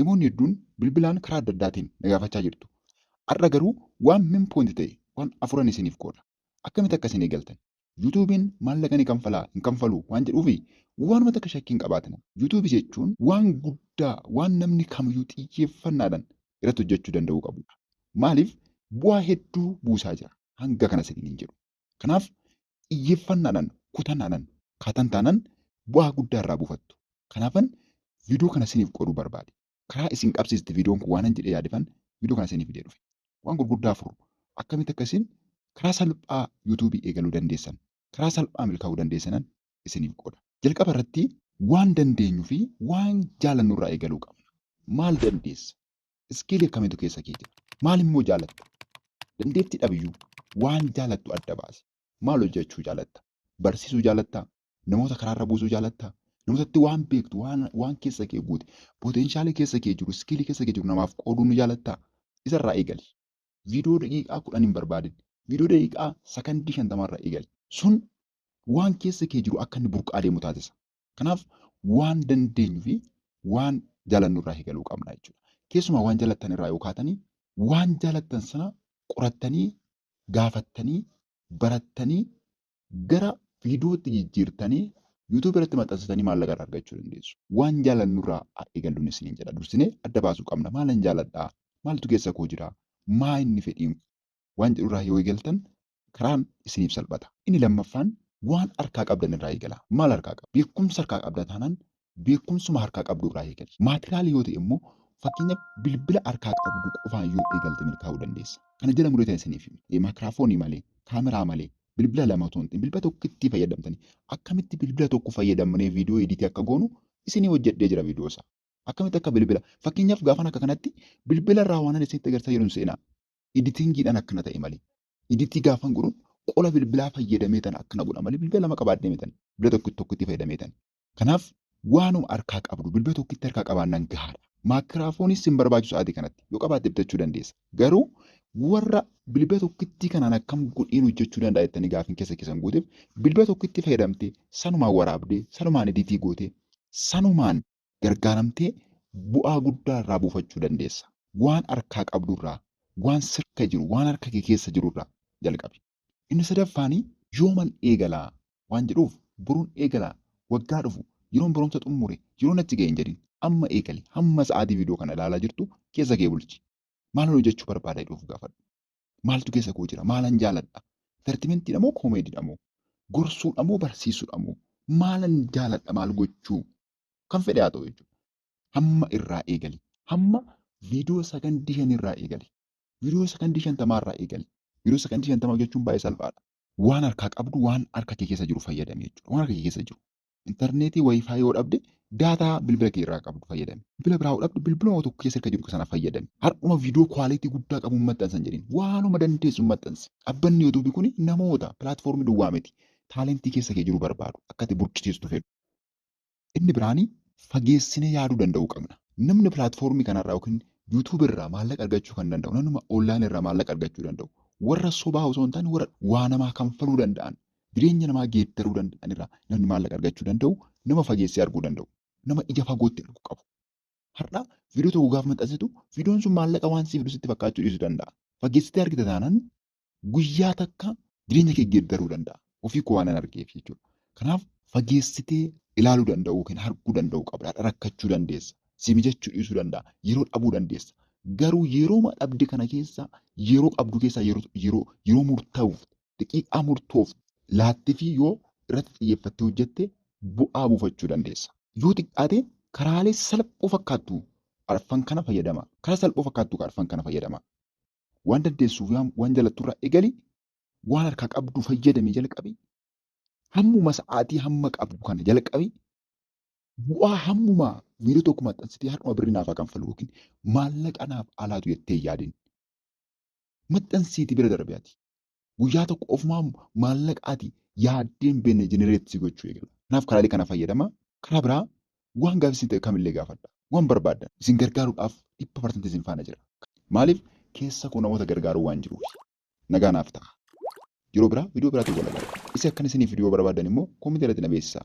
Namoonni hedduun bilbilaan karaa adda addaatiin na gaafachaa jirtu. Har'a garuu waan main point ta'e waan afuran isiniif qooda. Akkamitti akka isin eegaltan, YouTube'n maallaqa ni kanfalaa hin kanfaluu waan jedhuufi waanuma takka shakkii hin qabaatina. YouTube jechuun waan guddaa waan namni kamiyyuu xiyyeeffannaadhaan irratti hojjachuu danda'uu qabuudha. Maaliif bu'aa hedduu buusaa jira hanga kana isiniin hin jedhu. Kanaaf xiyyeeffannaadhaan, kutannaadhaan kaatan taanaan bu'aa guddaa irraa buufattu. Kanaafan viidiyoo kana isiniif qooduu barbaade. Karaa isin qabsiisti viidiyoon kun waanan jedhee yaadefan viidiyoo kana isinii fidee dhufe. Waan gurguddaa afur akkamitti akka isin karaa salphaa yuutuubii eegaluu dandeessan, karaa salphaa milkaa'uu dandeessanan isiniif qooda. Jalqaba irratti waan dandeenyu fi waan jaalannu irraa eegaluu qabna. Maal dandeessa? Iskiilii akkamiitu keessa kee jira? Maal immoo jaalatta? Dandeettii dhabiyyuu waan jaalattu adda baasi. Maal hojjechuu jaalatta? Barsiisuu jaalattaa? Namoota karaarra buusuu jaalattaa? Namootatti waan beektu, waan, waan keessa kee guute, poteenshaalii keessa kee jiru, iskiilii keessa kee jiru namaaf qooduu ni jaalattaa? Isarraa eegali. Viidiyoo daqiiqaa kudhan hin barbaadin. Viidiyoo daqiiqaa sakandii shantamaarraa eegali. Sun waan keessa kee jiru akka inni burqaa deemu taasisa. Kanaaf waan dandeenyu fi waan jaalannu irraa eegaluu qabna jechuudha. Keessumaa waan jaalattan irraa yoo kaatanii waan jaalattan sana qorattanii gaafattanii barattanii gara viidiyootti jijjiirtanii yuutuubii irratti maxxansitanii maallaqa irraa argachuu dandeessu. Waan jaalannu irraa haa eegalluun isiniin jedha. Dursinee adda baasuu qabna. Maalan jaaladhaa? Maaltu keessa koo jira? Maa inni fedhiin? Waan jedhu irraa yoo eegaltan karaan isiniif salphata. Inni lammaffaan waan harkaa qabdan irraa eegalaa. Maal harkaa qabda? Beekumsa harkaa qabda taanaan beekumsuma harkaa qabdu irraa eegali. Maatiraala yoo ta'e immoo fakkeenyaaf bilbila harkaa qabdu qofaan yoo eegalte milkaa'uu dandeessa. Kana jala muree ta'e isiniif hime. Maakiraafoonii malee, kaameraa malee, bilbila lama otoo hin ta'in bilbila tokkittii fayyadamtanii akkamitti bilbila tokko fayyadamnee viidiyoo editii akka goonu isinii hojjedhee jira viidiyoo isaa. Akkamitti akka bilbila fakkeenyaaf gaafan akka kanatti bilbila irraa waanan isinitti agarsiisaa jiru hin seenaa. Editingiidhaan akkana ta'e malee. Editii gaafan godhu qola bilbilaa fayyadamee tan akkana godha malee bilbila lama qabaadhee mitan. Bilbila tokkitti tokkitti fayyadamee tan. Kanaaf waanuma harkaa qabdu bilbila tokkitti harkaa qabaannan gahaadha. Maakiraafoonis sin barbaachisu sa'aatii kanatti. Yoo qabaatte bitachuu dandeessa. Garuu warra bilbila tokkittii kanaan akkam godheen hojjechuu danda'a jettanii gaafin keessa keessan guuteef bilbila tokkitti fayyadamtee sanumaan waraabdee sanumaan editii gootee sanumaan gargaaramtee bu'aa guddaa irraa buufachuu dandeessa. Waan harkaa qabdu irraa, waan sirka jiru, waan harka kee keessa jiru irraa jalqabi. Inni sadaffaan yooman eegala waan jedhuuf borun eegala, waggaa dhufu, yeroon barumsa xummure, yeroon achi gahe hin jedhin. Amma eegali. Hamma sa'aatii viidiyoo kana ilaalaa jirtu keessa kee bulchi. Maalan hojjechuu barbaada jedhii of gaafadhu. Maaltu keessa koo jira? Maalan jaaladha? Intartimentiidha moo koomeediidha moo? Gorsuudha moo barsiisuudha moo? Maalan jaaladha maal gochuu Kan fedhe haa ta'u jechuudha. Hamma irraa eegali. Hamma viidiyoo sakandii shan irraa eegali. Viidiyoo sakandii shantamaa irraa eegali. Viidiyoo sakandii shantamaa hojjechuun baay'ee salphaadha. Waan harkaa qabdu waan harka kee keessa jiru fayyadami jechuudha. Waan harka kee keessa jiru. Intarneetii wayifaayii yoo dhabde daataa bilbila kee irraa qabdu fayyadami. Bilbila biraa yoo dhabde bilbiluma tokko keessa harka jiru sana fayyadami. Har'uma viidiyoo kwaalitii guddaa qabu hin maxxansan jedhin. Waanuma dandeessu hin maxxansi. Dhabbanni YouTube kun namoota pilaatfoormii duwwaa miti. Taalentii keessa kee jiru barbaadu. Akka ati burqisiistu fedhu. Inni biraan fageessinee yaaduu danda'uu qabna. Namni pilaatfoormii kanarraa yookiin YouTube irraa maallaqa argachuu kan danda'u namnuma online irraa maallaqa argachuu danda'u warra sobaa osoo hin taane warra waa namaa kanfaluu danda'an jireenya namaa geeddaruu danda'an irraa namni maallaqa argachuu danda'u nama fageessee arguu danda'u nama ija fagootti arguu qabu. Har'a viidiyoo tokko gaafa maxxansitu viidiyoon sun maallaqa waan siif dhusitti fakkaachuu dhiisuu danda'a. Fageessitee argita taanaan Guyyaa takka jireenya kee geeddaruu danda'a. Ofii koo waanan argeef jechuudha. Kanaaf fageessitee ilaaluu danda'uu yookiin arguu danda'uu qabda. Har'a rakkachuu dandeessa. Si mijachuu dhiisuu danda'a. Yeroo dhabuu dandeessa. Garuu yerooma dhabde kana keessa yeroo qabdu keessaa yeroo yeroo yeroo murtaa'uuf daqiiqaa murtoof laattifii yoo irratti xiyyeeffattee hojjette bu'aa buufachuu dandeessa. Yoo xiqqaate karaalee salphoo fakkaattu arfan kana fayyadama. Karaa salphoo fakkaattu arfan kana fayyadama. Waan dandeessuuf yaam waan jalattu irraa egali waan harkaa qabdu fayyadame jalqabi hammuma sa'aatii hamma qabdu kana jalqabi bu'aa hammuma viidiyoo tokko maxxansitee har'uma birri naaf haa kanfalu yookiin maallaqa naaf alaatu jettee yaadin maxxansiiti bira darbe ati Guyyaa tokko ofumaa maallaqa ati yaaddee hin beekne generate si gochuu eegala. Kanaaf karaalee kana fayyadama. Karaa biraa waan gaaffii isin ta'e kamillee gaafadha. Waan barbaaddan isin gargaaruudhaaf dhibba parsantii isin faana jira. Maaliif keessa koo namoota gargaaruu waan jiruuf. Nagaa naaf ta'a. Yeroo biraa viidiyoo biraatiin wal agarra. Isa akkan isiniif fiduu barbaaddan immoo koomentii irratti na beeksisaa.